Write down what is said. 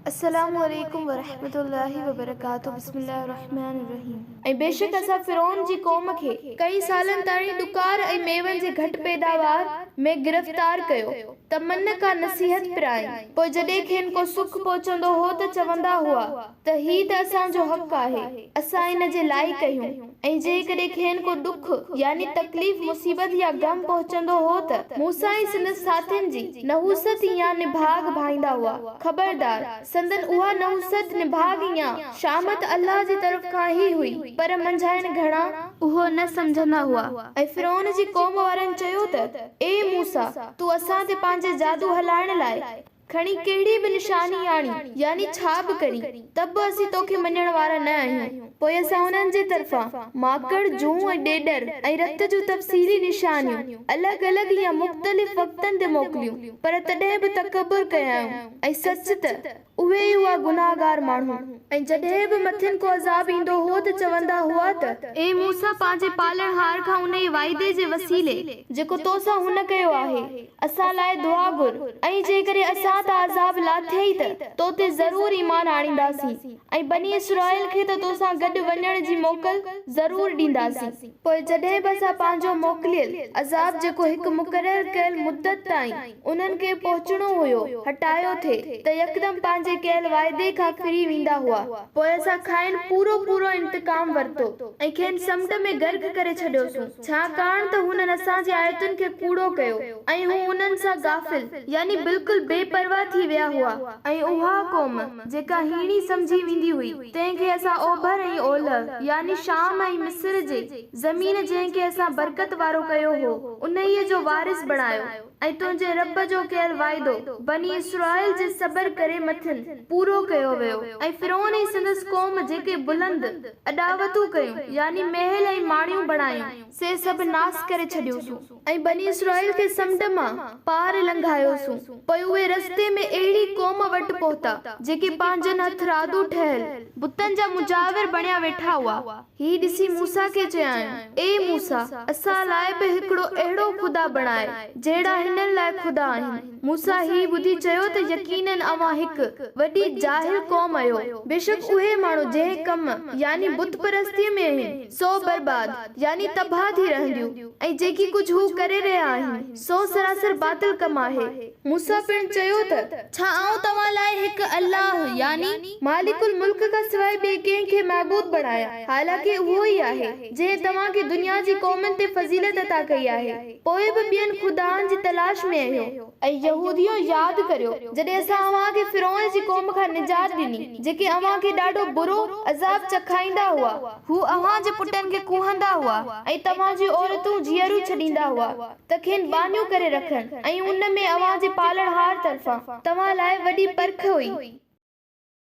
السلام عليڪم ورحمة الله وبرڪاته بسم الله الرحمٰن الرحيم. ۽ بيشڪ اسان فرعون جي قوم کي ڪئين سالن تاڻي ڏڪار ۽ ميون جي گهٽ پيداوار ۾ گرفتار ڪيو ته من ڪا نصيحت پرائين پوء جڏهن کين ڪو سک پهچندو هو ته چوندا هئا ته هي ته اسان جو حق آهي اسان ان جي لائق اهيون. ۽ جيڪڏهن کين ڪو ڏک، يعني تڪليف، مصيبت يا غم پهچندو هو ته موسيٰ ۽ سندس ساٿين جي نحوست يا نڀاڳ ڀائيندا هئا. خبردار! سندن اها نحوست، نڀاڳ يا شهامت الله جي طرف کان ئي هئي، پر منجهائن گهڻا، اهو نه سمجهندا هئا ۽ فرعون جي قوم وارن چيو ته، اي موسيٰ! تون اسان تي پنهنجي جادو هلائڻ لاء، کڻي ڪهڙي به نشاني آڻي، يعني ڇا به ڪري، ته به اسين توکي مڃڻ وارا نه آهيون. پوء اسان انهن جي طرفان ماڪڙ، جون ۽ ڏيڏر ۽ رت جون تفصيلي نشانيون الڳ الڳ يا مختلف وقتن تي موڪليون، پر تڏهن به تڪبر ڪيائون ۽ سچ ته اهي ئي هئا گناهگار ماڻهو. ۽ جڏهن به مٿين ڪو عذاب ايندو هو ته چوندا هئا ته. اي موسيٰ پنهنجي پالڻهار کان انهيء وعدي جي وسيلي. جيڪو تو سان هن ڪيو آهي. اسان لاء دعا گهر ۽ جيڪڏهن اسان تان عذاب لاٿيئي ته تو تي ضرور ايمان آڻينداسين ۽ بني اسرائيل کي ته تو سان گڏ وڃڻ جي موڪل ضرور ڏينداسين. پوء جڏهن به اسان پنهنجو موڪليل عذاب جيڪو هڪ مقرر ڪيل مدت تائين انهن کي پهچڻو هيو هٽايو ٿي ته يڪدم پنهنجي ڪيل واعدي کان ڦري ويندا هئا. پوء اسان کانئن پورو پورو انتقام ورتو ۽ کين سمنڊ ۾ غرق ڪري ڇڏيوسون. ڇاڪاڻ ته هنن اسان جي آيتن کي ڪوڙو ڪيو ۽ هو انهن سان غافل، يعني بلڪل بي پرواهه ٿي ويا هئا ۽ اها قوم، جيڪا هيڻي سمجهي ويندي هئي، تنهن کي اسان اوڀر ۽ اولهه، يعني شام ۽ مصر جي زمين جنهن کي اسان برڪت وارو ڪيو هو، انهيء جو وارث بڻايو. ۽ تنهنجي رب جو ڪيل وعدو، بني اسرائيل جي صبر ڪري مٿين، پورو ڪيو ويو، ۽ فرعون ۽ سندس قوم جيڪي بلند، اڏاوتون ڪيون، يعني محل ۽ ماڙيون بڻايون، سي سڀ ناس ڪري ڇڏيوسون، ۽ بني اسرائيل کي سمنڊ مان پار لنگهايوسون، پوء اهي رستي ۾ اهڙي قوم وٽ پهتا، جيڪي پنهنجن هٿرادو ٺهيل بتن جا مجاور بڻيا ويٺا هئا. هي ڏسي موسيٰ کي چيائين، اي موسيٰ! اسان لاء به هڪڙو اهڙو خدا بڻاء، جهڙا هنن لاء خدا آهن. موسيٰ هي ٻڌي چيو ته يقيناً اوهان هڪ، وڏي، جاهل قوم اهيو. بيشڪ اهي ماڻهو جنهن ڪم، يعني بت پرستيء، ۾ اهن، سو برباد، يعني تباهه، ٿي رهنديون، ۽ جيڪي ڪجهه هو ڪري رهيا آهن، سو سراسر باطل ڪم آهي. موسيٰ پڻ چيو ته، ڇا آئون توهان لاء هڪ الله، يعني مالڪ الملڪ کان سواء ٻئي ڪنهن کي معبود بڻايان، حالانڪ اهو ئي آهي، جنهن توهان کي دنيا جي قومن تي فضيلت عطا ڪئي آهي، پوء به ٻين خدائن جي تلاش ۾ اهيو. اي يهوديؤ! ياد ڪريو، جڏهن اسان اوهان کي فرعون جي قوم کان نجات ڏني، جيڪي اوهان کي ڏاڍو برو، عذاب، چکائيندا هئا. هو اوهان جي پٽن کي ڪوهندا هئا ۽ توهان جون عورتون جيئريون ڇڏيندا هئا. ته کين ٻانهيو ڪري رکن ۽ ان ۾ اوهان جي پالڻهار طرفان. توهان لاء وڏي پرک هئي.